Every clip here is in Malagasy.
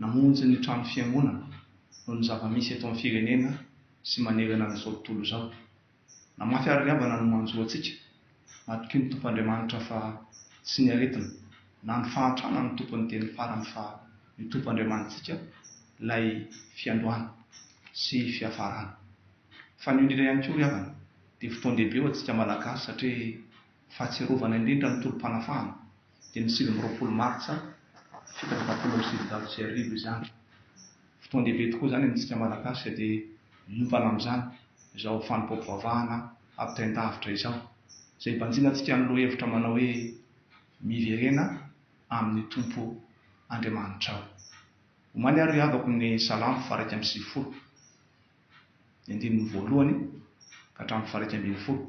Namonjy ny trano fiangonana noho ny zava-misy eto amin'ny firenena sy manerana an'izao tontolo izao. Namafy àry ry havana ny manjo antsika. Matokia ny Tompo Andriamanitra fa tsy ny aretina na ny fahantrana no tompon'ny teny farany fa ny Tompo Andriamanitsika ilay fiandohana sy fiafarana. Fanionira ihany koa ry havana dia fotoan-dehibe ho antsika Malagasy satria Fahatsiarovana indrindra ny tolom-panafahana dia ny sivy amby roapolo martsa fito amby efapolo amby sivinjato sy arivo izany. Fotoan-dehibe tokoa izany amintsika Malagasy dia miompana amin'izany izao fanompoam-pivavahana ampitain-davitra izao izay ibanjina antsika amin'ny lohahevitra manao hoe Miverena amin'ny Tompo Andriamanitrao. Omaly ary ry havako ny Salamo faha iraika amby sivifolo. ny andininy voalohany ka hatramin'ny faharaika ambin'ny folo.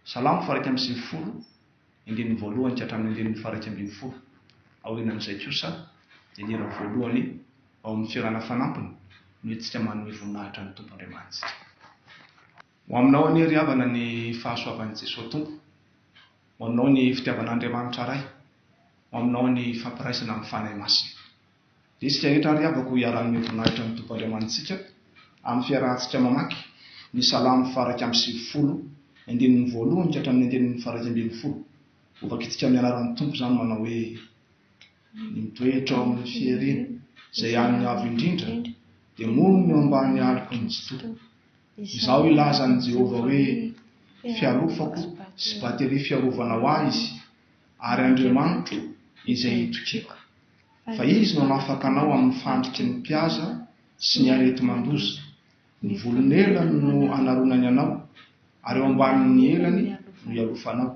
Salamo faharaika amby sivifolo, ny andininy voalohany ka hatramin'ny andininy faharaika ambin'ny folo. Aorianan'izay kosa dia ny hira voalohany ao amin'ny Fiarahana Fanampiny no entintsika manome voninahitra ny Tompo Andriamanitsika. Ho aminao anie ry havana ny fahasoavan'i Jesoa Tompo, ho aminao ny fitiavan'Andriamanitra Ray, ho aminao ny fampiraisana amin'ny Fanahy Masina. Isika rehetra àry havako iharan'ny voninahitra ny Tompo Andriamanitsika, amin'ny fiarahantsika mamaky ny Salamo faha-iraika amby sivifolo, andininy voalohany ka hatramin'ny andininy faha-iraika ambin'ny folo. Hovakintsika amin'ny anaran'ny Tompo izany manao hoe, Ny mitoetra ao amin'ny fierena, izay an'ny Avo Indrindra, dia monina eo ambany aloky ny Tsitoha. Izao hilaza an'i Jehovah hoe, Fialofako sy bateria fiarovana ho ahy izy, ary Andriamanitro izay itokiako. Fa izy no hanafaka anao amin'ny fandriky ny mpihaza sy ny areti-mandoza. Ny volon'elany no anaronany anao, ary eo ambanin'ny elany no ialofanao.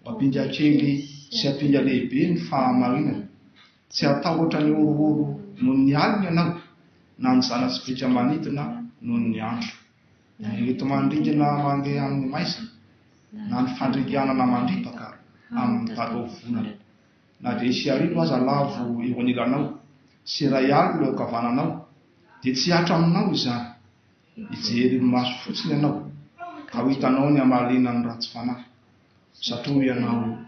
Ho ampinga kely sy ampinga lehibe ny fahamarinany. Tsy hatahotra ny horohoro noho ny alina ianao, na ny zana-tsipìka manidina noho ny andro, na ny areti-mandringana mandeha amin'ny maizina, na ny fandringanana mandripaka amin'ny talovonana. Na dia hisy arivo aza lavo eo anilanao, sy iray alina eo ankavananao, dia tsy hatra aminao izany. Hijery ny maso fotsiny ianao, ka ho hitanao ny hamaliana ny ratsy fanahy. Satria hoy ianao,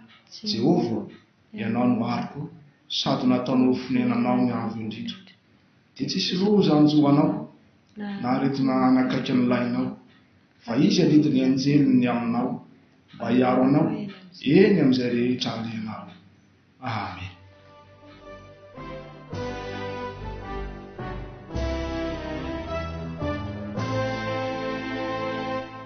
Jehovah, ianao no aroko, sady nataonao ho fonenanao ny Avo Indrindra. Dia tsisy roa zany zo anao na aretina hanakaiky ny lainao, fa izy adidy ny anjeliny aminao mba hiaro anao eny amin'izay rehetra alehanao. Amen.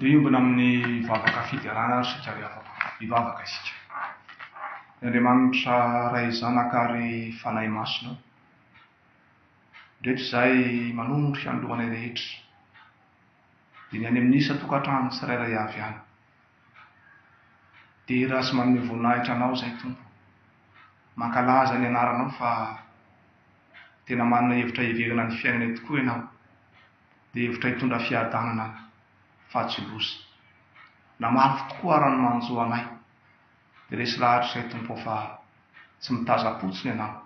Ndeha hiombona amin'ny vavaka fiderana ry Sika ry havako, hivavaka isika. Ry Andriamanitra Ray Zanaka ary Fanahy Masina ô, indreto izahay manondro Anao anay rehetra, dia ny any amin'ny isan-tokantrano tsirairay avy any. Dera sy manome voninahitra Anao izahay Tompo, mankalaza ny Anaranao fa. Tena manana hevitra hiheverana ny fiainana tokoa ianao. Dia hevitra hitondra fiadanana fa tsy loza. Na mafy tokoa ara ny manjo anay. Dia resy lahatra izay Tompo ô fa tsy mitazam-potsiny ianao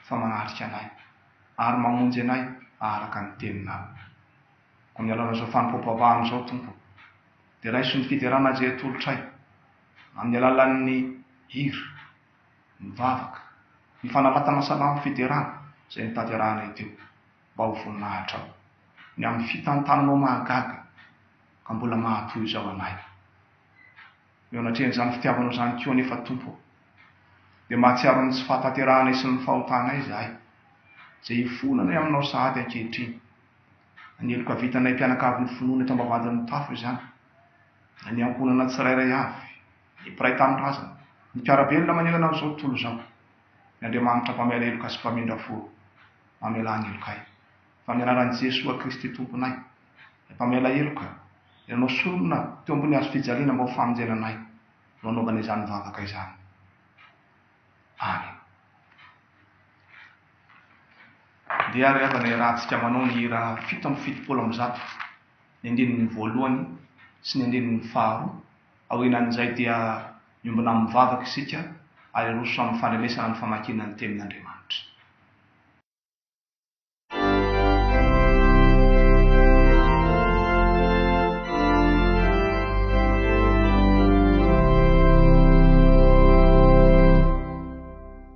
fa manatrika anay ary mamonjy anay araka ny teninao. Amin'ny alalan'izao fanompoam-pavahana izao Tompo dia raiso ny fiderana azy eto atolotray amin'ny alalan'ny hira mivavaka ny fanapatana salamo federana izay notanterahanay teo mba ho voninahitrao ny amin'ny fitantananao mahagaga ka mbola mahatohy izao anay eo anatrehan'izany fitiavanao izany koa anefa Tompo ô dia mahatsiaro ny tsy fahatanterahanay sy ny fahotanay izahay izay hifoananay aminao sahady ankehitriny na ny heloka vitanay mpianakavin'ny finoana eto ambavahadin'ny tafo izany na ny ankohonana tsirairay avy Ny mpiray tanindrazana. Ny mpiara-belona manerana an'izao tontolo izao. Ny Andriamanitra mpamaila heloka sy mpamindra fo. Mamelà ny helokay. Fa amin'ny anaran'i Jesoa Kristy Tomponay. Ry mpamaila heloka. Ry anao sorona teo ambony hazo fijaliana mba ho famonjena anay. No anaovana izany vavaka izany. Amen. Ndeha ry havana iarahantsika manao ny hira fito amby fitopolo amby zato, ny andininy voalohany sy ny andininy faharoa. Aorianan'izay dia miombona amin'ny vavaka isika ary aroso amin'ny fandrenesana ny famakiana ny Tenin'Andriamanitra.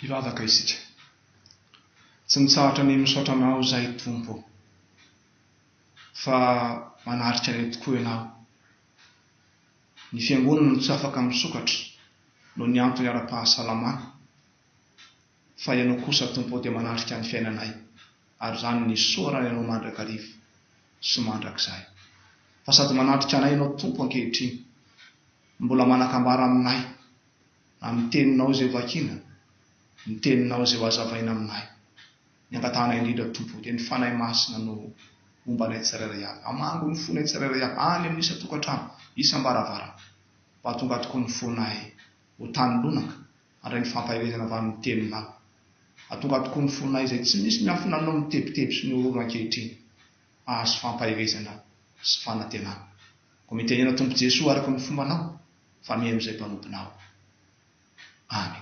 Hivavaka isika. Tsy mitsahatra ny misaotra Anao izahay Tompo ô, fa manatrika anay tokoa Ianao. Ny Fiangonana no tsy afaka misokatra noho ny antony ara-pahasalamana, fa Ianao kosa, Tompo ô, dia manatrika ny fiainanay, ary izany no nisaorany Anao mandrakariva sy mandrakizay. Fa sady manatrika anay Ianao, Tompo, ankehitriny, no mbola manakambara aminay, na amin'ny Teninao izay vakiana, ny Teninao izay hohazavaina aminay. Ny angatahana indrindra Tompo o dia ny Fanahy Masina no homba anay tsirairay avy, hamango ny fonay tsirairay avy any amin'ny isan-tokantrano, isam-baravarana, mba hahatonga tokoa ny fonay ho tany lonaka, handray ny fampaherezana avy amin'ny Teninao, hahatonga tokoa ny fonay izay tsy misy ny afo nanao ny tebiteby sy ny horohoro ankehitriny, hahazo fampaherezana sy fanantenana. Koa mitenena Tompo Jesoa araka ny fombanao, fa miha amin'izay mpanomponao. any.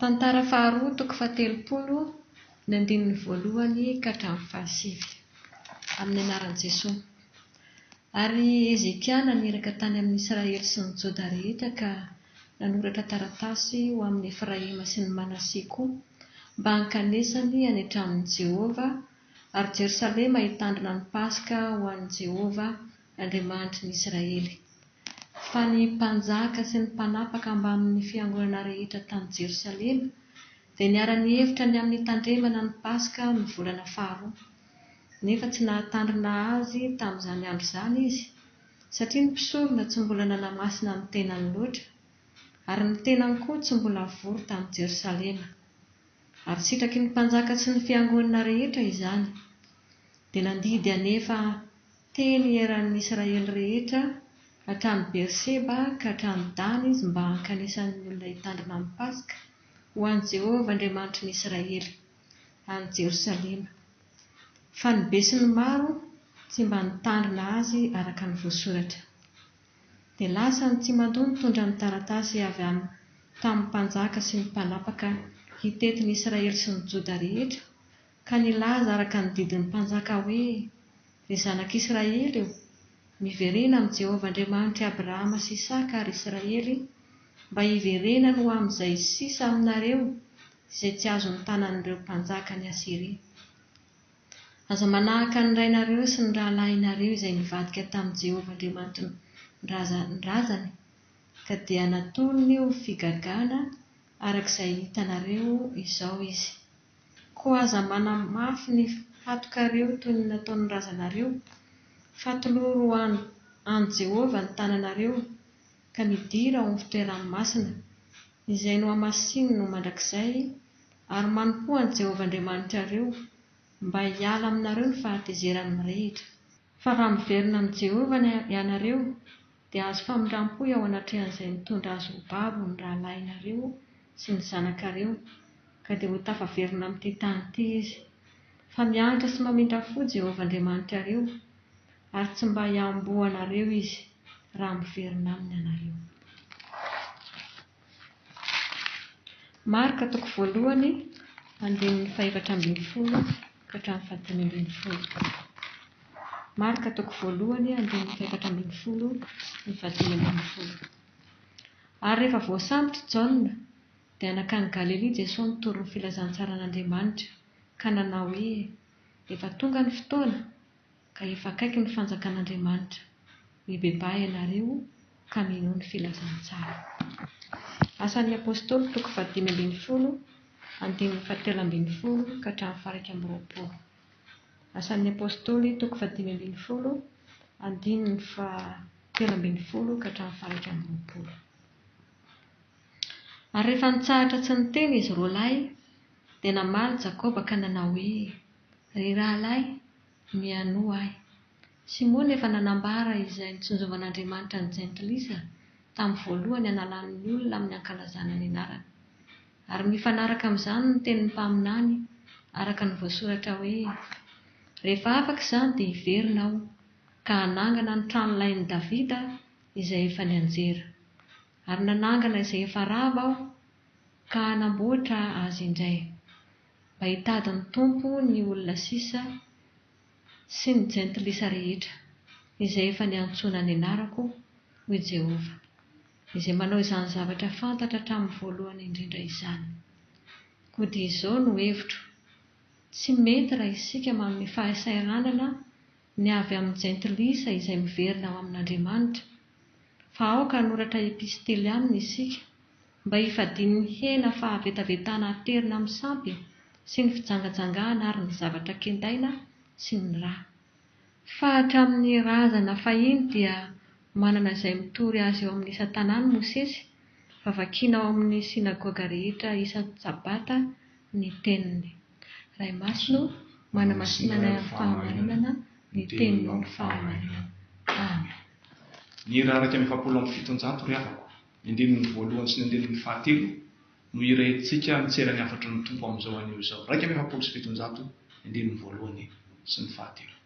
Tantara faharoa toko fahatelopolo ny andininy voalohany ka hatramin'ny fahasivy. Amin'ny anaran'i Jesoa. Ary Hezekia naniraka tany amin'ny Israely sy ny Joda rehetra ka nanoratra taratasy ho amin'i Efraima sy ny Manase koa mba hankanesany any an-tranon'i Jehovah, ary Jerosalema hitandrina ny Paska ho an'i Jehovah, Andriamanitry ny Israely. Fa ny mpanjaka sy ny mpanapaka mbamin' ny fiangonana rehetra tany Jerosalema dia niara-nihevitra ny amin' ny hitandremana ny Paska amin' ny volana faharoa, nefa tsy nahatandrina azy tamin' izany andro izany izy, satria ny mpisorona tsy mbola nanamasina ny tenany loatra, ary ny tenany koa tsy mbola vory tany Jerosalema. Ary sitraky ny mpanjaka sy ny fiangonana rehetra izany. Dia nandidy hanefa teny eran' ny Israely rehetra, hatrany Beerseba ka hatrany Dana izy mba hankanesan' ny olona hitandrina ny Paska ho an' Jehovah Andriamanitry ny Israely, any Jerosalema. Fa ny be sy ny maro tsy mba nitandrina azy araka ny voasoratra. Dia lasa ny tsimando nitondra ny taratasy avy amin'ny tamin'ny mpanjaka sy ny mpanapaka hitety ny Israely sy ny Joda rehetra, ka nilaza araka ny didin'ny mpanjaka hoe, Ry zanak'Israely ô, miverena amin'i Jehovah Andriamanitr'i Abrahama sy Isaka ary Israely, mba hiverenany ho amin'izay sisa aminareo izay tsy azon'ny tanan'ireo mpanjakan'i Asyria. Aza manahaka ny rainareo sy ny rahalahinareo izay nivadika tamin'i Jehovah Andriamanitin-drazany, ka dia natolony ho figagana araka izay hitanareo izao izy. Koa aza manamafy ny hatokareo toy ny nataon'ny razanareo, fa toloro ho an'i Jehovah ny tananareo. ka nidira ao amin'ny fitoerany masina, izay nohamasininy ho mandrakizay, ary manompoa an'i Jehovah Andriamanitrareo, mba hiala aminareo ny fahatezerany mirehitra. Fa raha miverina amin'i Jehovah ny ianareo, dia azo famindram-po eo anatrehan'izay nitondra azy ho babo ny rahalahinareo sy ny zanakareo, ka dia ho tafaverina amin'ity tany ity izy. Fa mianatra sy mamindra fo Jehovah Andriamanitrareo, Ary tsy mba hiamboho anareo izy raha miverina aminy ianareo. Marka toko voalohany, andininy fahefatra ambin'ny folo ka hatramin'ny fahadimy ambin'ny folo. Marka toko voalohany, andininy fahefatra ambin'ny folo sy ny fahadimy ambin'ny folo. Ary rehefa voasambotry Jaona, dia nankany Galilia Jesoa nitory ny filazantsaran'Andriamanitra, ka nanao hoe, Efa tonga ny fotoana, Ka efa akaiky ny fanjakan'Andriamanitra. Mibebaha ianareo ka mino ny filazantsara. Asan'ny Apostoly toko fahadimy ambin'ny folo andininy fahatelo ambin'ny folo ka hatramin'ny faha-iraika amby roapolo. Asan'ny Apostoly toko fahadimy ambin'ny folo andininy fahatelo ambin'ny folo ka hatramin'ny faha-iraika amby roapolo. Ary rehefa nitsahatra tsy niteny izy roalahy, dia namaly Jakoba ka nanao hoe, Ry rahalahy, Mihainoa ahy. Simona efa nanambara izay nitsinjovan'Andriamanitra ny Jentilisa tamin'ny voalohany hanalany ny olona amin'ny hankalazana ny anarany. Ary mifanaraka amin'izany ny tenin'ny mpaminany araka ny voasoratra hoe, Rehefa afaka izany dia hiverina aho, ka hanangana ny trano lain'i Davida izay efa nianjera. Ary nanangana izay efa rava aho, ka hanamboatra azy indray. Mba hitady ny Tompo ny olona sisa sy ny jentilisa rehetra, izay efa niantsoana ny anarako, hoy i Jehovah, izay manao izany zavatra fantatra hatramin'ny voalohany indrindra izany. Koa dia izao no hevitro, Tsy mety raha isika manome fahasairanana ny avy amin'ny jentilisa izay miverina ao amin'Andriamanitra, fa aoka hanoratra epistily aminy isika, mba hifadian'ny hena fahavetavetana aterina amin'ny sampy sy ny fijangajangahana ary ny zavatra kendaina sy ny ra. Fa hatramin'ny razana fahiny dia manana izay mitory azy eo amin'ny isan-tanàny Mosesy, fa vakiana ao amin'ny synagoga rehetra isan-tsabata ny teniny. Ray Masina ô, manamasina anay amin'ny fahamarinana ny Teninao ny fahamarinana. Amen. Ny hira iraika amby efapolo amby fitonjato ry havako, ny andininy voalohany sy ny andininy fahatelo, no hiraintsika mitserany hafatry ny Tompo amin'izao anio izao, iraika amby efapolo sy fitonjato ny andininy voalohany sy ny fahatelo.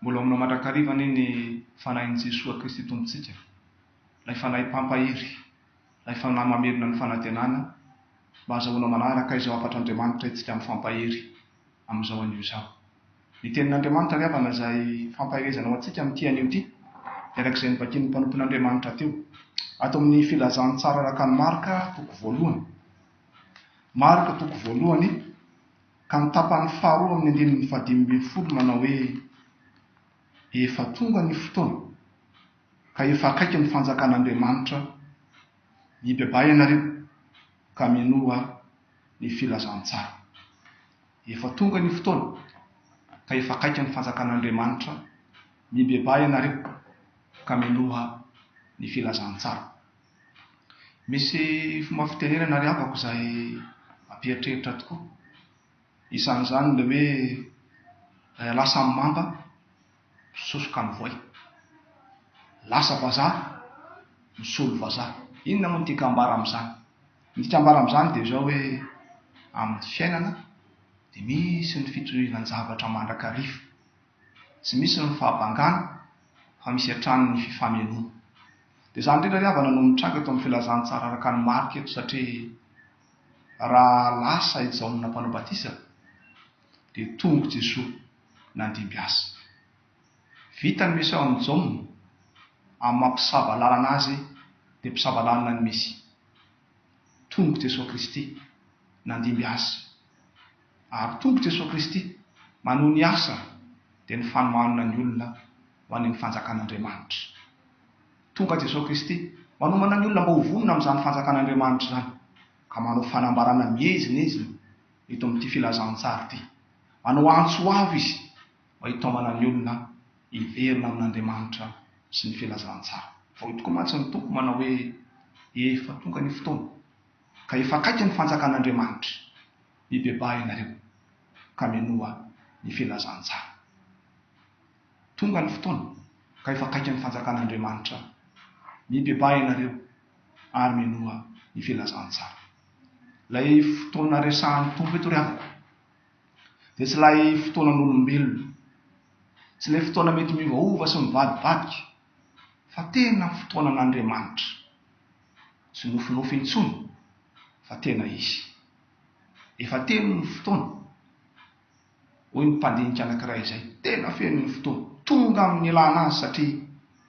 Mbola homana mandrakariva anie ny Fanahin'i Jesoa Kristy Tompontsika, ilay Fanahy Mpampahery, ilay Fanahy mamelona ny fanantenana, mba hazahoana manaraka izao hafatr'Andriamanitra isika mifampahery amin'izao anio izao. Ny Tenin'Andriamanitra ry havana izay fampaherezana ho antsika amin'ity anio ity, dia araka izay novakin'ny mpanompon'Andriamanitra teo, ato amin'ny Filazantsara araka an'i Marka, toko voalohany. Marka, toko voalohany. Ka ny tapany faharoa amin'ny andininy fahadimy ambin'ny folo manao hoe, Efa tonga ny fotoana, ka efa akaiky ny fanjakan'Andriamanitra, mibebaha ianareo, ka minoa ny filazantsara. Efa tonga ny fotoana, ka efa akaiky ny fanjakan'Andriamanitra, mibebaha ianareo, ka minoa ny filazantsara. Misy fomba fitenenana ary havako izay ampieritreritra tokoa. Isan'izany ilay hoe eh, lasa amin'ny mamba, misosoka amin'ny voay. Lasa vazaha, misolo vazaha. Inona moa no tiako hambara amin'izany? Ny tiako hambara amin'izany dia izao hoe amin'ny fiainana dia misy ny fitorianan-javatra mandrakariva. Tsy misy ny fahabangana fa misy hatrany ny fifamenoana. Dia izany indrindra ry havana no mitranga eto amin'ny filazantsara araka an'i Marka eto satria raha lasa i Jaona mpanao batisa dia tonga i Jesoa nandimby azy. Vita ny misao an'i Jaona amin'ny maha mpisava lalana azy dia mpisava lalana ny Mesia. Tonga i Jesoa Kristy nandimby azy. Ary Tompo Jesoa Kristy manohy ny asa dia ny fanohanana ny olona ho any amin'ny fanjakan'Andriamanitra. Tonga Jesoa Kristy manomana ny olona mba ho vonona amin'izany fanjakan'Andriamanitra izany ka manao fanambarana miezinezina eto amin'ity filazantsara ity. Manao antso avo Izy mba hitaomana ny olona hiverina amin'Andriamanitra sy ny filazantsara. Vao io tokoa mantsy ny Tompo manao hoe, Efa tonga ny fotoana, ka efa akaiky ny fanjakan'Andriamanitra. Mibebaha ianareo ka minoa ny filazantsara. Tonga ny fotoana ka efa akaiky ny fanjakan'Andriamanitra. Mibebaha ianareo ary minoa ny filazantsara. Ilay fotoana resahan'ny Tompo eto ry havako dia tsy ilay fotoanan'olombelona, tsy ilay fotoana mety miovaova sy mivadibadika, fa tena fotoanan'Andriamanitra. Tsy nofinofy intsony fa tena izy. Efa telo ny fotoana, hoy ny mpandinika anankiray izay tena feno ny fotoana, tonga amin'ny nilana azy satria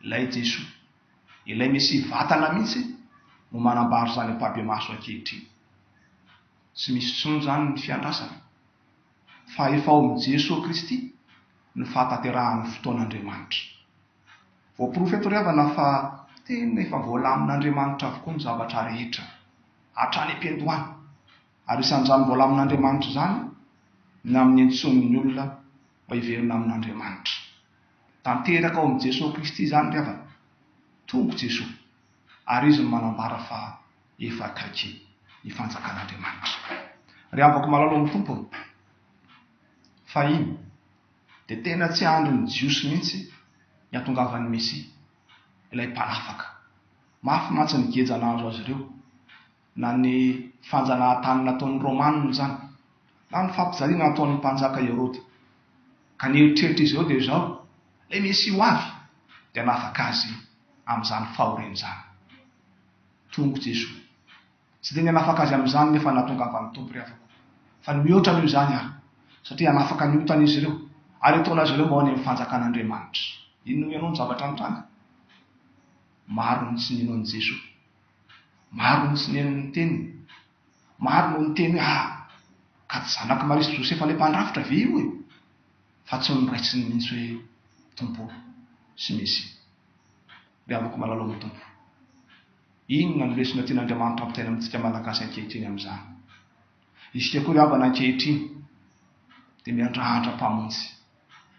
ilay Jesoa, ilay Mesia vatana mihitsy no manambara izany ampahibemaso ankehitriny. Tsy misy intsony izany ny fiandrasana fa efa ao amin'i Jesoa Kristy ny fahatanterahan'ny fotoan'Andriamanitra. Voaporofo eto ry havana fa tena efa voalamin'Andriamanitra avokoa ny zavatra rehetra, hatrany am-piandohana. Ary isan'izany voalamin'Andriamanitra izany ny amin'ny antsoin'ny olona mba hiverina amin'Andriamanitra. Tanteraka ao amin'i Jesoa Kristy izany ry havana. Tompo Jesoa, ary Izy no manambara fa efa akaiky ny fanjakan'Andriamanitra. Ry havako malalo amin'ny Tompo ô! Fahiny. Dia tena tsy andrin'ny Jiosy mihitsy ny hatongavan'ny Mesia, ilay Mpanafaka. Mafy mantsy ny geja nahazo azy ireo, na ny fanjanahantany nataon'ny Romanina izany, na ny fampijaliana nataon'ny Mpanjaka Heroda. Ka ny eritreritr'izy ireo dia izao, Ilay Mesia ho avy dia hanafaka azy amin'izany fahoriany izany. Tongo Jesoa. Tsy dia nihanafaka azy amin'izany nefa ny nahatongavan'ny Tompo ry havako, fa ny mihoatra noho izany aho, satria hanafaka ny otan'izy ireo, ary hataon'azy ireo mba ho any amin'ny fanjakan'Andriamanitra. Inona hoy ianao ny zavatra nitranga? Maro no tsy nino an'i Jesoa. Maro no tsy nino ny teniny. Maro no niteny hoe, Ah! Ka tsy zanak'i Maria sy Josefa ilay mpandrafitra ve io e? Fa tsy noraisiny mihitsy hoe Tompo sy Mesia. Ry havako malala ao amin'ny Tompo. Inona no lesona tian'Andriamanitra hampitaina amintsika Malagasy ankehitriny amin'izany? Isika koa ry havana ankehitriny dia miandrandra Mpamonjy,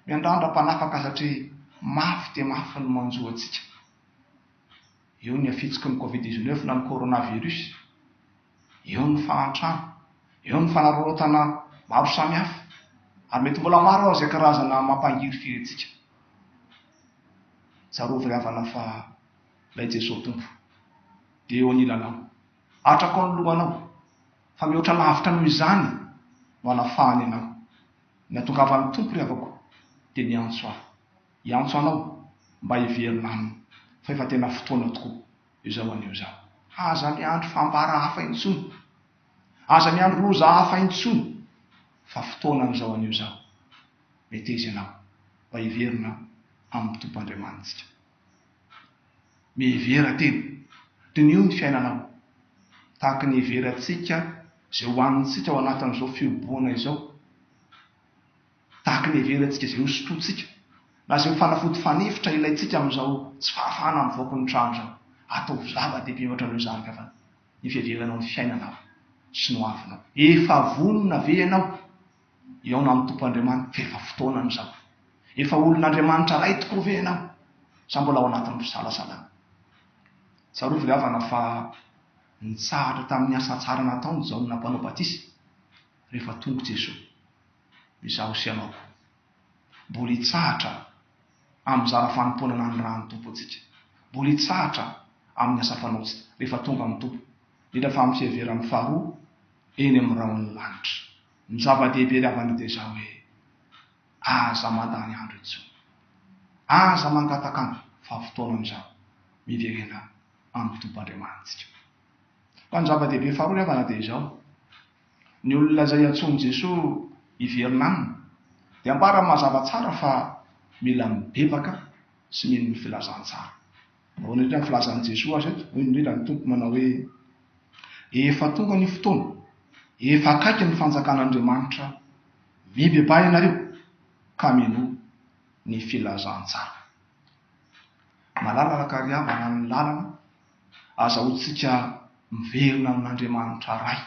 miandrandra Mpanafaka satria mafy dia mafy ny manjo antsika. Eo ny hafitsiky ny Covid dix neuf na ny Coronavirus, eo ny fahantrana, eo ny fanararaotana maro samihafa ary mety mbola maro aza izay karazana mampangiry firentsika. Tsarovy ry havana fa Ilay Jesoa Tompo dia eo anilanao, atrako ny lohanao, fa mihoatra lavitra noho izany no anafahany anao. Ny atongavan'ny Tompo, ry havako, dia miantso ahy, hiantso anao mba hiverina Aminy, fa efa tena fotoana tokoa izao anio izao. Aza miandry fambara hafa intsony, aza miandry loza hafa intsony, fa fotoanan'izao anio izao. Meteza ianao mba hiverina amin'ny Tompo Andriamanitsika. Mihevera tena. Diniho ny fiainanao. Tahaka ny hiheverantsika izay ho hanintsika ao anatin'izao fihobohana izao. Tahaka ny hiheverantsika izay hosotrointsika, na izay ho fanafody fanefitra ilaintsika amin'izao tsy fahafahana mivoaka ny trano izao. Ataovy zava-dehibe ohatran'io izany ka fa ny fiheveranao ny fiainanao sy ny hoavinao. Efa vonona ve ianao? Hihaona amin'ny Tompo Andriamaniko fa efa fotoana ny zao. Efa olon'Andriamanitra Ray tokoa ve ianao sa mbola ao anatin'ny fisalasalana? Tsarovy ry havana fa nitsahatra tamin'ny asa tsara nataon'i Jaona Mpanao Batisa rehefa tonga i Jesoa. Izaho sy ianao koa mbola hitsahatra amin'ny zara fanompoana nanirahan'ny Tompo antsika. Mbola hitsahatra amin'ny asa fanaontsika rehefa tonga amin'ny Tompo, indrindra fa amin'ny fiheveran'ny faharoa eny amin'ny rahon'ny lanitra. Ny zava-dehibe ry havana dia izao hoe, aza mandany andro intsony. Aza mangatakanga fa fotoana amin'izao miverena amin'ny Tompo Andriamanitsika. Fa ny zava-dehibe faharoa ry havana dia izao, ny olona izay antsoin'i Jesoa hiverina Aminy dia ambarany mazava tsara fa mila mibebaka sy mino ny filazantsara. Ahoana indrindra ny filazan'i Jesoa azy eto? Hoy indrindra ny Tompo manao hoe, Efa tonga ny fotoana, efa akaiky ny fanjakan'Andriamanitra, mibebaha ianareo ka minoa ny filazantsara. Malalaka ary havana ny lalana azahoantsika miverina amin'Andriamanitra Ray.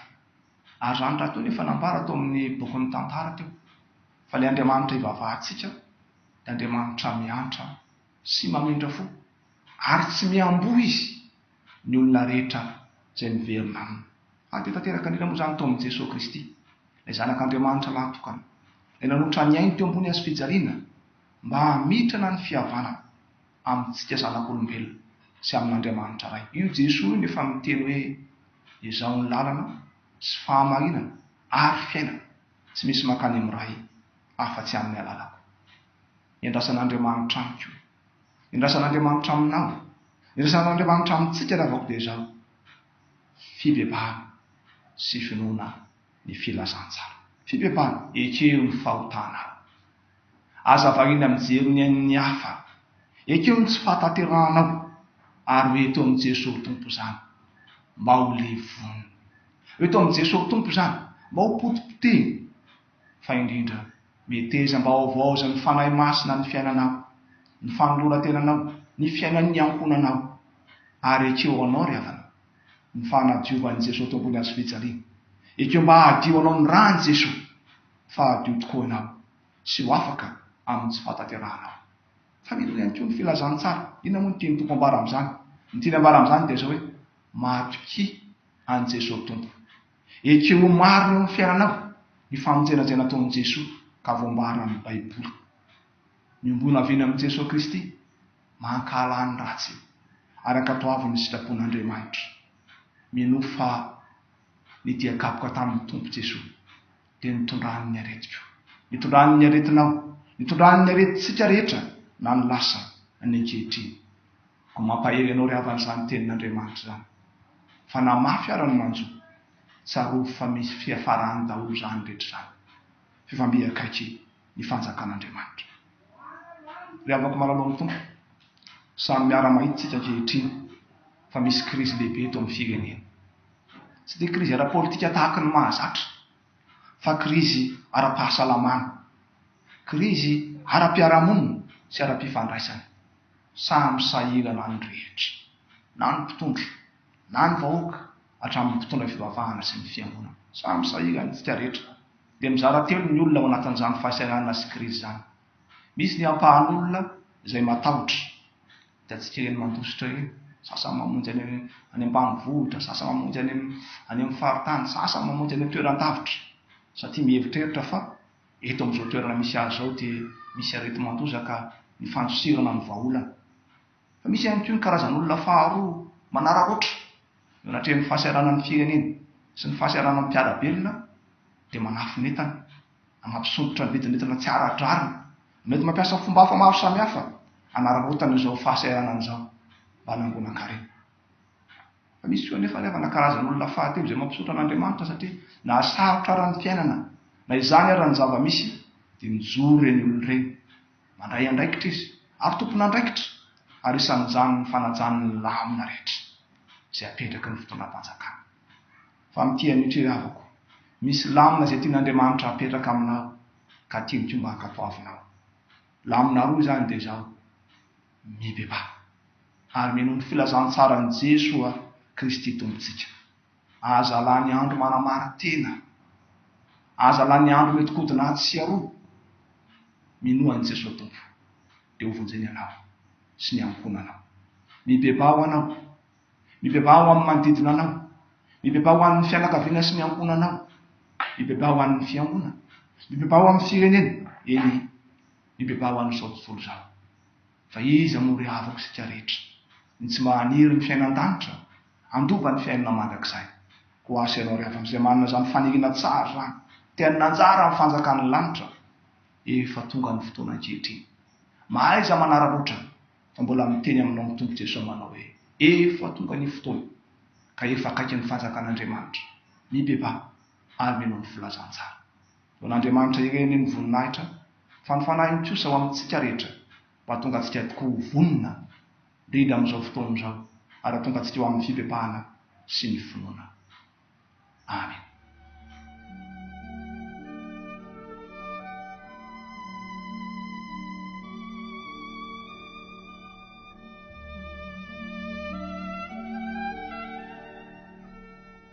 Ary izany rahateo no efa nambara tao amin'ny bokin'ny Tantara teo, fa ilay Andriamanitra ivavahantsika dia Andriamanitra miantra sy mamindra fo, ary tsy miamboho izy ny olona rehetra izay miverina aminy. Ary be tanteraka indrindra moa izany tao amin'i Jesoa Kristy, ilay Zanak'Andriamanitra lahatokana, ilay nanotra ny ainy teo ambony hazofijaliana mba hamitrana ny fihavanana amintsika zanak'olombelona sy amin'Andriamanitra Ray. Io Jesoa io no efa miteny hoe, Izaho ny lalana sy fahamarinana ary fiainana, tsy misy mankany amin'ny Ray afa-tsy amin'ny alalako. Iandrasan'Andriamanitra amiko. Iandrasan'Andriamanitra aminao. Iandrasan'Andriamanitra amintsika ravako dia izao, fibebahana sy finoana ny filazantsara. Fibebahana, ekeo ny fahotanao. Aza variana mijery ny ain'ny hafa. Ekeo ny tsy fahatanterahanao ary ho eto amin'i Jesoa ho Tompo izany mba ho levonina. Ho eto amin'i Jesoa ho Tompo izany mba ho potipotehina fa indrindra metezam-baovao izay ny Fanahy Masina ny fiainanao, ny fanoloran-tenanao, ny fiainan'ny ankohonanao, ary ekeo ho anao ry havana, ny fanadiovan'i Jesoa Tompon'ny Hazo fijaliana. Ekeo mba hadio anao ny ran'i Jesoa, fa hadio tokoa ianao, sy ho afaka amin'ny tsy fahatanterahanao. Fa mino ihany koa ny filazantsara. Inona moa no tian'ny Tompo ambara amin'izany? Ny tiany ambara amin'izany dia izao hoe, Matokia an'i Jesoa Tompo. Ekeo ho marina eo amin'ny fiainanao ny famonjenanjaina ataon'i Jesoa ka voambaran'ny Baiboly. Miombona avy eny amin'i Jesoa Kristy, mankahala ny ratsy, ary ankatoavin'ny sitrapon'Andriamanitra. Minoa fa ny dia kapoka tamin'ny Tompo Jesoa dia nitondrany ny aretiko, nitondrany ny aretinao, nitondrany ny aretintsika rehetra na ny lasa na ny ankehitriny. Koa mampahery anao ry havana izany tenin'Andriamanitra izany. Fa na mafy ara ny manjo, tsarovy fa misy fiafarany daholo izany rehetra izany. Fivambe akaiky ny fanjakan'Andriamanitra. Ry havako malalo amin'ny Tompo, samy miara-mahita isika ankehitriny fa misy krizy lehibe eto amin'ny firenena. Tsy dia krizy ara-politika tahaky ny mahazatra, fa krizy ara-pahasalamana, krizy ara-piarahamonina sy ara-pifandraisana. Samy sahirana ny rehetra, na ny mpitondra, na ny vahoaka, hatramin'ny mpitondra fivavahana sy ny fiangonana. Samy sahirana isika rehetra. Dia mizara telo ny olona ao anatin'izany fahasahiranana sy krizy izany. Misy ny ampahan'olona izay matahotra. Hitantsika ireny mandositra ireny, sasany mamonjy any any ambanivohitra, sasany mamonjy any any amin'ny faritany, sasany mamonjy any an-toeran-davitra, satria mieritreritra fa Eto amin'izao toerana misy ahy izao dia misy areti-mandoza ka ny fandosirana no vahaolana. Fa misy ihany koa ny karazan'olona faharoa manararaotra, eo anatrehan'ny fahasahiranan'ny firenena sy ny fahasahiranan'ny mpiara-belona dia manafin'entana na mampisondrotra ny vidin'entana tsy ara-drariny na mety mampiasa fomba hafa maro samihafa hanararaotana izao fahasahiranana izao mba hanangonankarena. Misy koa anefa ilay manakarazan'olona fahatelo izay mampisaotra an'Andriamanitra satria nahasarotra ara ny fiainana. Na izany ara ny zava-misy dia mijoro ireny olona ireny. Mandray andraikitra izy ary tompon'andraikitra ary isan'izany ny fanajany ny lamina rehetra izay apetraky ny fitondram-panjakana. Fa mitia an'io ry havako. Misy lamina izay tian'Andriamanitra hapetraka aminao ka tiany koa mba hankatoavinao. Lamina roa izany dia izao. mibebaha, ary mino ny filazantsaran'i Jesoa Kristy Tompontsika. Aza lany andro manamarin-tena. Aza lany andro mety kodina atsy sy aroa. Minoa an'i Jesoa Tompo, dia ho vonjeny ianao sy ny ankohonanao. Mibebaha ho anao. Mibebaha ho amin'ny manodidina anao. Mibebaha ho an'ny fianakaviana sy ny ankohonanao. Mibebaha ho an'ny fiangonana. Mibebaha ho amin'ny firenena. Eny. Mibebaha ho an'izao tontolo izao. Fa iza moa ry havako isika rehetra, ny tsy mahaniry ny fiaina an-danitra? Handova ny fiainana mandrakizay. Koa ho an'sianao ry havako izay manana izany faniriana tsara izany, te hanana anjara amin'ny fanjakan'ny lanitra, efa tonga ny fotoana ankehitriny. Mahaiza manararaotra fa mbola miteny aminao ny Tompo Jesoa manao hoe, Efa tonga ny fotoana, ka efa akaiky ny fanjakan'Andriamanitra. Mibebaha ary mino ny filazantsara. Ho an'Andriamanitra ireny ny voninahitra, fa ny fanahiny kosa ho amintsika rehetra, mba hahatonga antsika tokoa ho vonona indrindra amin'izao fotoana izao, ary hahatonga antsika ho amin'ny fibebahana sy ny finoana. Amena.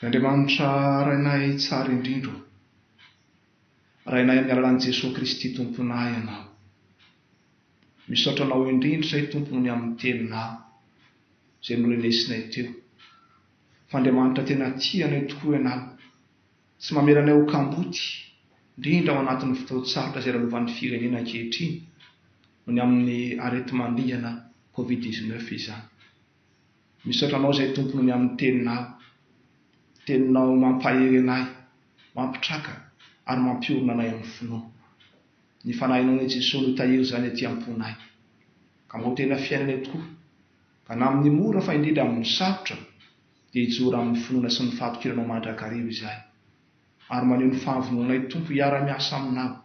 Ry Andriamanitra Rainay tsara indrindra ô! Rainay amin'ny alalan'i Jesoa Kristy Tomponay Ianao. Misaotra Anao indrindra izay Tompo ny amin'ny Teninao izay norenesinay teo, fa Andriamanitra tena tia anay tokoa Ianao, tsy mamela anay ho kamboty, indrindra ao anatin'ny fotoan-tsarotra izay lalovan'ny Firenena ankehitriny noho ny amin'ny areti-mandringana Covid dix-neuf izany. Misaotra anao izay tompony ny amin'ny teninao. Teninao mampahery anay, mampitraka ary mampiorina anay amin'ny finoana. Ny Fanahinao an'i Jesoa no tahiry izany aty am-ponay. Ka mba ho tena fiainanay tokoa. Ka na amin'ny mora fa indrindra amin'ny sarotra dia hijoro amin'ny finoana sy ny fahatokiranao mandrakariva izay. Ary maneho ny fahavononanay Tompo hiara-miasa aminao,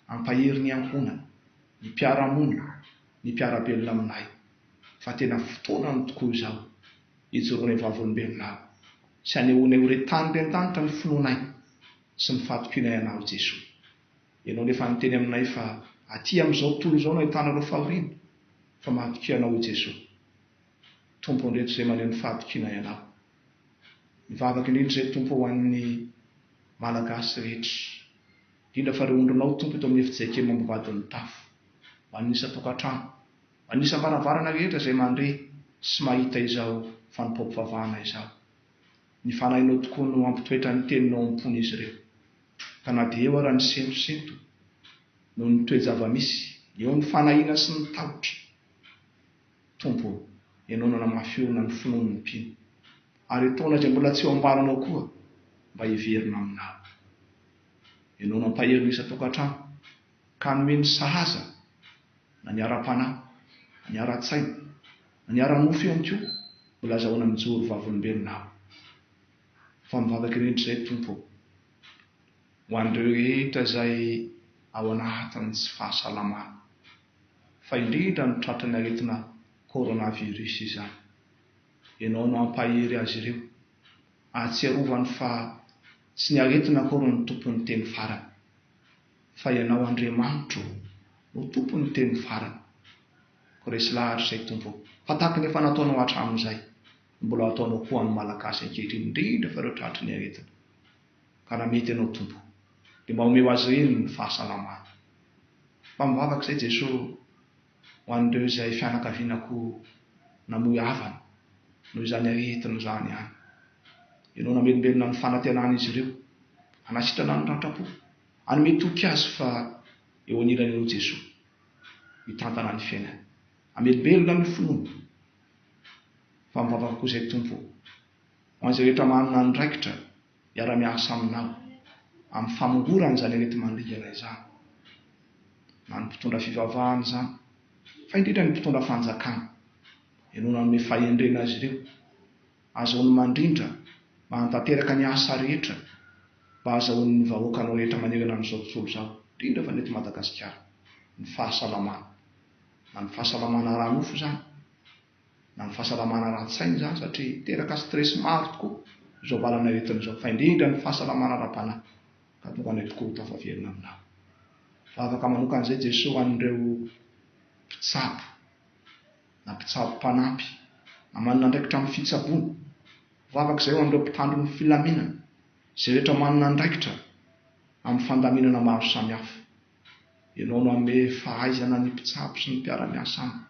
hampahery ny ankohonana, ny mpiara-monina, ny mpiara-belona aminay. fa tena fotoanany tokoa izao hijoroana ho vavolombelona aho sy hanehoanay ho re tany teny an-danitra ny finoanay sy ny fahatokianay Anao Jesoa. Ianao no efa niteny aminay fa aty amin'izao tontolo izao no ahitana ireo fahoriana fa mahatokia Anao Jesoa. Tompo andreto izay maneho ny fahatokianay Anao. Mivavaka indrindra izay Tompo ho an'ny Malagasy rehetra. Indrindra fa ireo ondrinao Tompo eto amin'ny efi-JKM ambovadin'ny tafo. Manisa tokantrano. Manisa am-baravarana rehetra izay mandre sy mahita izao fanompoam-pivavahana izao. Ny Fanahinao tokoa no hampitoetra ny Teninao am-pon'izy ireo. Ka na dia eo ara ny sentosento noho ny toe-java-misy, eo ny fanahiana sy ny tahotra, Tompo o, Ianao no hanamafy orina ny finoan'ny mpino. Ary etoana izay mbola tsy eo am-balanao koa mba hiverina aminao. ianao nampahery ny isan-tokantrano, ka nomeny sahaza na ny ara-panahy, na ny ara-tsaina, na ny ara-nofo ihany koa, mbola azahoana mijoro vavolombelona aho. Fa mivavaka indrindra izay, Tompo ô, ho an'ireo rehetra izay ao anatin'ny tsy fahasalamana, fa indrindra ny tratran'ny aretina coronavirus izany. Ianao no hampahery azy ireo. ahatsiarovany fa tsy ny aretina akory no tompon'ny teny farany, fa ianao Andriamanitro no tompon'ny teny farany. Ko resy lahatra izay Tompo o! Fa tahaka ny efa nataonao hatramin'izay, no mbola ataonao koa ho an'ny Malagasy ankehitriny, indrindra fa ireo tratry ny aretina. Ka raha mety ianao Tompo, dia mba omeo azy ireny ny fahasalamana. Mba mivavaka izay Jesoa o! ho an'ireo izay fianakavianako namoy havana noho izany aretina izany ihany. Ianao namelombelona ny fanantenan'izy ireo, hanasitrana ny ratra-po, hanome toky azy fa eo anilany eo Jesoa, mitantana ny fiainany. Amelombelona ny finoana fa mivavaka koa izay Tompo o, ho an'izay rehetra manana andraikitra. hiara-miasa aminao amin'ny famongorana izany areti-mandringana izany, na ny mpitondra fivavahana izany, fa indrindra ny mpitondra fanjakana. Ianao nanome fahendrena azy ireo. Azahoany mandrindra mba hanatanteraka ny asa rehetra mba hahazahoan'ny vahoakanao rehetra manerana an'izao tontolo izao, indrindra fa ny eto Madagasikara, ny fahasalamana. Na ny fahasalamana ara-nofo izany. na ny fahasalamana ara-tsaina izany satria miteraka stress maro tokoa izao valan'aretina izao fa indrindra ny fahasalamana ara-panahy ka tonga anay tokoa ho tafaverina aminao. Vavaka manoka an'izay Jeso ho an'ireo mpitsabo na mpitsabo mpanampy na manana andraikitra amin'ny fitsaboana. Vavaka izay ho an'ireo mpitandro ny filaminana, izay rehetra manana andraikitra amin'ny fandaminana maro samihafa. Ianao no hanome fahaizana ny mpitsabo sy ny mpiara-miasa aminy.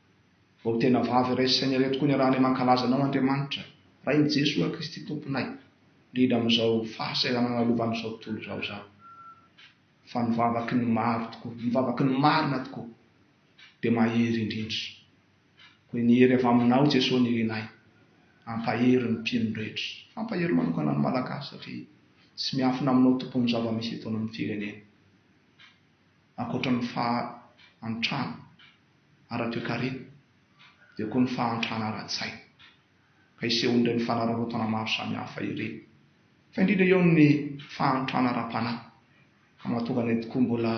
Vao tena vavy iray saina iray tokoa niarahanay mankalaza Anao Andriamanitra, Rain'i Jesoa Kristy Tomponay, indrindra amin'izao fahasahiranana lovan'izao tontolo izao izany. Fa ny vavaky ny maro tokoa, ny vavaky ny marina tokoa, dia mahery indrindra. Koa ny hery avy Aminao Jesoa nirinay, hampahery ny mpino rehetra, hampahery manokana ny Malagasy satria tsy miafina Aminao Tompo ny zava-misy eto amin'ny firenena. Ankoatra ny fahantrana ara-toekarena dia koa ny fahantrana ara-tsaina ka isehoan'ireny mifanararaotana maro samihafa ireny, fa indrindra eo amin'ny fahantrana ara-panahy ka mahatonga anay tokoa mbola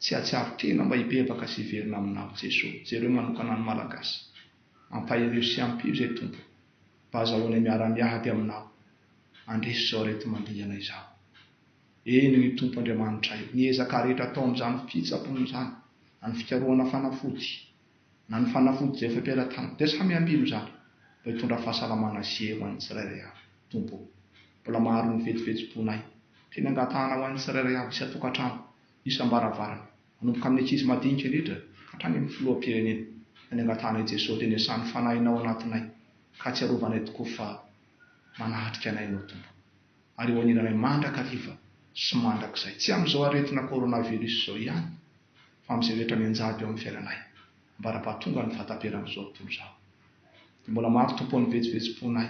tsy hahatsiaro tena mba hibebaka sy hiverina aminao Jeso. Jereo manokana ny Malagasy. Ampaherio sy ampio izay Tompo mba azahoanay miara-miady aminao handresy izao aretimandringana izao. Eny, ry Tompo Andriamanitray, ny ezaka rehetra atao amin'izany fitsapona izany, na ny fikarohana fanafody, na ny fanafody izay efa am-pelatanana, dia samy ampy amin'izany, mba hitondra fahasalamana sy hery ho an'ny tsirairay avy. Tompo o! Mbola maro ny vetsovetsom-ponay. Teny angatahana ho an'ny tsirairay avy isan-tokantrano, isam-baravarana, manomboka amin'ny ankizy madinika indrindra ka hatrany amin'ny Filoham-pirenena. Teny angatahana i Jesoa, teny iasan'ny Fanahinao anatinay, ka ahatsiarovanay tokoa fa manatrika anay Ianao, Tompo. ary ho an'ilay mandrakariva sy mandrakizay, tsy amin'izao aretina coronavirus izao ihany, fa amin'izay rehetra mianjady eo amin'ny fiainanay, ambara-pahatonga ny fahataperan'izao tontolo izao. Dia mbola maro Tompo o ny vetsivetsim-ponay,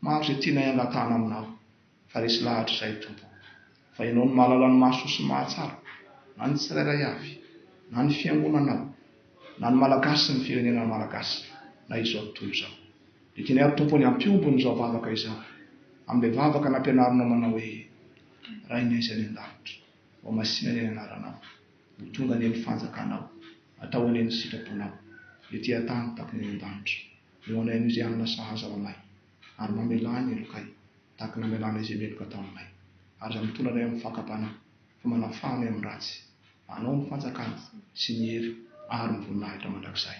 maro izay tianay hangatahana Aminao, fa resy lahatra izay Tompo o, fa Ianao no mahalala ny mahasoa sy ny mahatsara, na ny tsirairay avy, na ny Fiangonanao, na ny Malagasy sy ny firenena Malagasy, na izao tontolo izao. Ekena ary Tompo anie hampiombo an'izao vavaka izao amin'ilay vavaka nampianarinao manao hoe, Rainay izay any an-danitra, ho masina anie ny anaranao, ho tonga anie ny fanjakanao, atao anie ny sitraponao, ety an-tany tahaka ny any an-danitra. Ho anay amin'izay hanana sahaza ho anay, ary mamelà ny helokay tahaka ny namelanay izay meloka tao aminay, ary izay mitondra anay amin'ny fakam-panahy, fa manafaha anay amin'ny ratsy. Anao ny fanjakana, sy ny hery, ary ny voninahitra mandrakizay.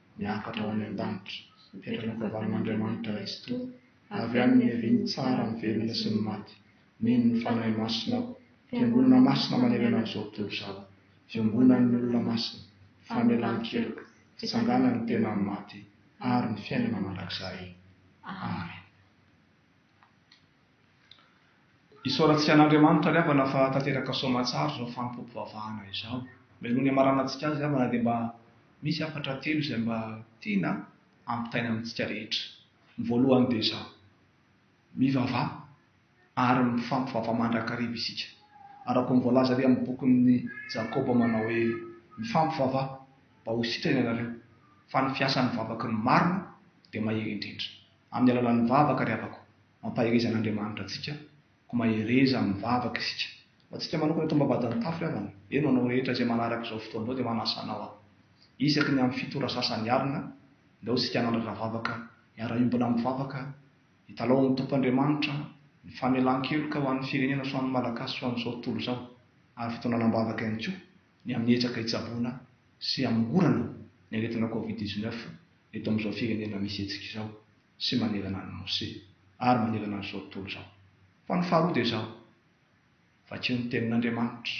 miakatra ho any an-danitra, mipetraka an-kavanan'Andriamanitra Raisoa, avy any niavian'ny tsara ny velona sy ny maty, mino ny Fanahy Masina aho, fiangonana masina manerana an'izao tontolo izao, fiombonan'ny olona masina, famelan-keloka, fitsanganan'ny tena amin'ny maty, ary ny fiainana mandrakizay. Amen. Isaorantsika an'Andriamanitra ry havana fa tanteraka soamatsara izao fanompoam-pivavahana izao. Melohany hamarana antsika azy ry havana dia mba misy hafatra telo izay mba tiana hampitaina amintsika rehetra. Ny voalohany dia izao, mivavaha ary mifampivavaha mandrakariva isika. Araka ny voalaza ary amin'ny bokin'i Jakoba manao hoe, Mifampivavaha, mba ho sitrana ianareo, fa ny fiasan'ny vavaka ny marina dia mahery indrindra. Amin'ny alalan'ny vavaka ry havako. Ampaherezan'Andriamanitra antsika, koa mahereza amin'ny vavaka isika. Ho antsika manokana eto am-bavahadin'ny tafo ry havana, eny ho anao rehetra izay manaraka izao fotoana izao dia manasa anao aho. Isaky ny amin'ny fito ora sasany alina, aleo isika hanandrana vavaka, hiara-hiombona amin'ny vavaka, hitalaho amin'ny Tompo Andriamanitra ny famelan-keloka ho an'ny firenena sy ho an'ny Malagasy sy ho an'izao tontolo izao, ary fitonanam-bavaka ihany koa ny amin'ny ezaka hitsaboana sy hamongorana ny aretina Covid dix-neuf eto amin'izao firenena misy hetsika izao. sy manerana an'i Mose, ary manerana an'izao tontolo izao. Fa ny faharoa dia izao, Vakio ny Tenin'Andriamanitra.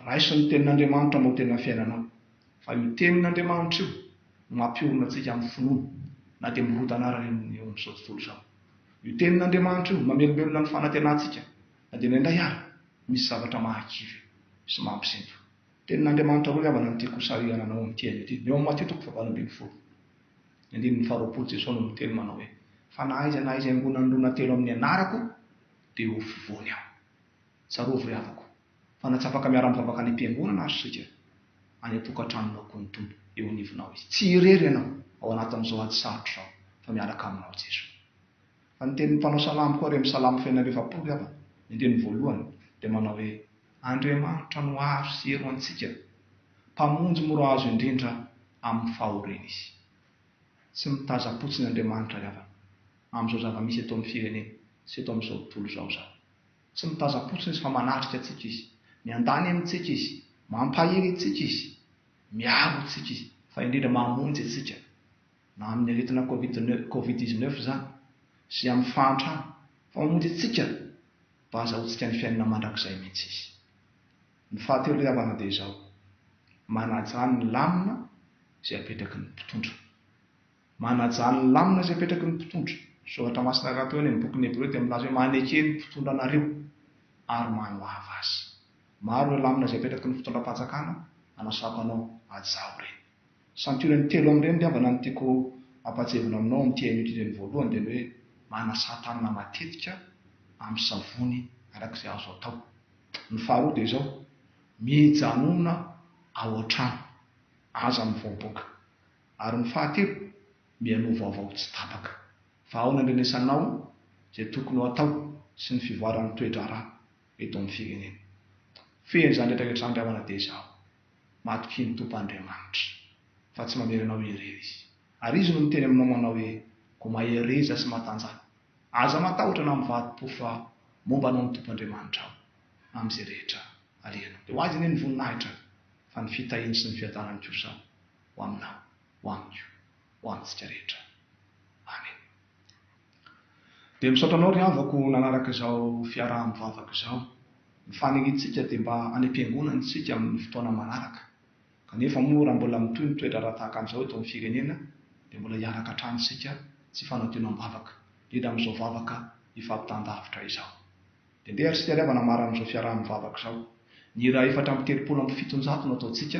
Raiso ny Tenin'Andriamanitra mba ho tena fiainanao. Fa io Tenin'Andriamanitra io no mampiorina antsika amin'ny finoana, na dia mirodana ara eo amin'izao tontolo izao. Io Tenin'Andriamanitra io no mamelombelona ny fanantenantsika, na dia indraindray ara misy zavatra mahakivy sy mampisento. Tenin'Andriamanitra roa havana no tiako hosarihana anao amin'ity haino ity, ny ao amin'ny Matio toko fahavalo ambin'ny folo. Ny andininy faharoapolo, Jesoa no miteny manao hoe, Fa na aiza na aiza iangonan'olona telo amin'ny anarako, dia ho fovoany aho. Tsarovy ry havako, fa natsapaka miara-mivavaka any am-piangonana ary isika, any an-tokantranonao koa ny Tompo, eo anivonao Izy. Tsy irery ianao ao anatin'izao ady sarotra izao, fa miaraka aminao Jesoa. Fa ny tenin'ny mpanao salamo koa ary amin'ny Salamo fahefapolo ry havana, ny andininy voalohany, dia manao hoe, Andriamanitra no aro sy helo antsika, Mpamonjy mora azo indrindra amin'ny fahoriana Izy. Tsy mitazam-potsiny Andriamanitra ry havana, amin'izao zava-misy eto amin'ny firenena sy eto amin'izao tontolo izao izany. Tsy mitazam-potsiny Izy fa manatrika antsika Izy, miandany amintsika Izy, mampahery antsika Izy, miaro antsika Izy, fa indrindra mamonjy antsika, na amin'ny aretina covid dix neuf izany, sy amin'ny fahantrana, fa mamonjy antsika! Mba hazahoantsika ny fiainana mandrakizay mihitsy izy. Ny fahatelo ry havana dia izao, manajà ny lamina izay apetraky ny mpitondra. Manajà ny lamina izay apetraky ny mpitondra. Ny soratra masina iray toa eny amin'ny bokin'ny Hebreo dia milaza hoe maneke ny mpitondra anareo ary manohava azy. Maro ireo lamina izay apetraky ny fitondram-panjakana anasako anao, hajao ireny. Century ny telo amin'ireny ngambana no tiako ampahatsiahivina aminao amin'ity hain'io ireny voalohany dia ny hoe manasa tanana matetika amin'ny savony araka izay azo atao. Ny faharoa dia izao, mijanona ao an-trano, aza mivoaboaka. Ary ny fahatelo, mihainoa vaovao tsy tapaka. Fa ao ny andrenesanao izay tokony ho atao sy ny fivoaran'ny toe-draharaha eto amin'ny firenena. Fehiny izany rehetra rehetra izany ry havana dia izaho Matokia ny Tompo Andriamanitra, fa tsy mamery anao irery Izy. Ary Izy no miteny aminao manao hoe, Koa mahereza sy matanjaha. Aza matahotra na mivadi-po fa momba anao ny Tompo Andriamanitrao, amin'izay rehetra alehanao. Dia ho Azy anie ny voninahitra, fa ny fitahiany sy ny fiadanany kosa ho aminao, ho amiko, ho amintsika rehetra. Amena. Dia misaotra anao ry havako nanaraka izao fiaraha-mivavaka izao. Ny fanelintsika dia mba any am-piangonana isika amin'ny fotoana manaraka. Kanefa moa raha mbola mitohy ny toe-draharaha tahaka an'izao eto amin'ny firenena dia mbola hiaraka hatrany isika tsy fanadionam-bavaka, indrindra amin'izao vavaka hifampitan-davitra izao. Dia ndeha ary isika ry havana marina amin'izao fiaraha-mivavaka izao. Ny hira efatra amby telopolo amby fitonjato no ataontsika.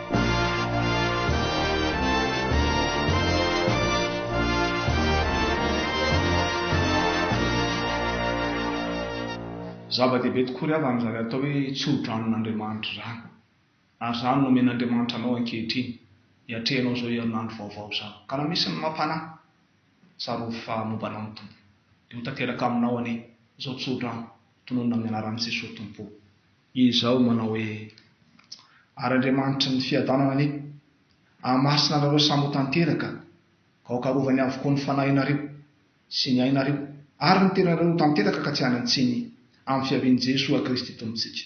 Zava-dehibe tokoa ry havana izany atao hoe tsodranon-Andriamanitra izany. Ary izany no omen'Andriamanitra anao ankehitriny, hiatrehanao izao herinandro vaovao izao. Ka na misy ny mampanahy, tsarovy fa momba anao ny Tompo. Dia ho tanteraka aminao anie izao tsodrano, tononina amin'ny anaran'i Jesoa Tompo o. Izaho manao hoe, Ary Andriamanitry ny fiadanana anie hahamasina anareo samy ho tanteraka ka hokarovany avokoa ny fanahinareo sy ny ainareo ary ny tenanareo ho tanteraka ka tsy any an-tsiny amin'ny fiavian'i Jesoa Kristy Tompon-tsika.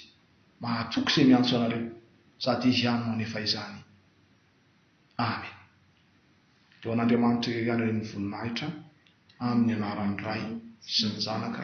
Mahatoky izay miantso anareo sady Izy ihany no hanefa izany. Amen. Ho an'Andriamanitra irery ihany ireny voninahitra amin'ny anaran'ny Ray sy ny Zanaka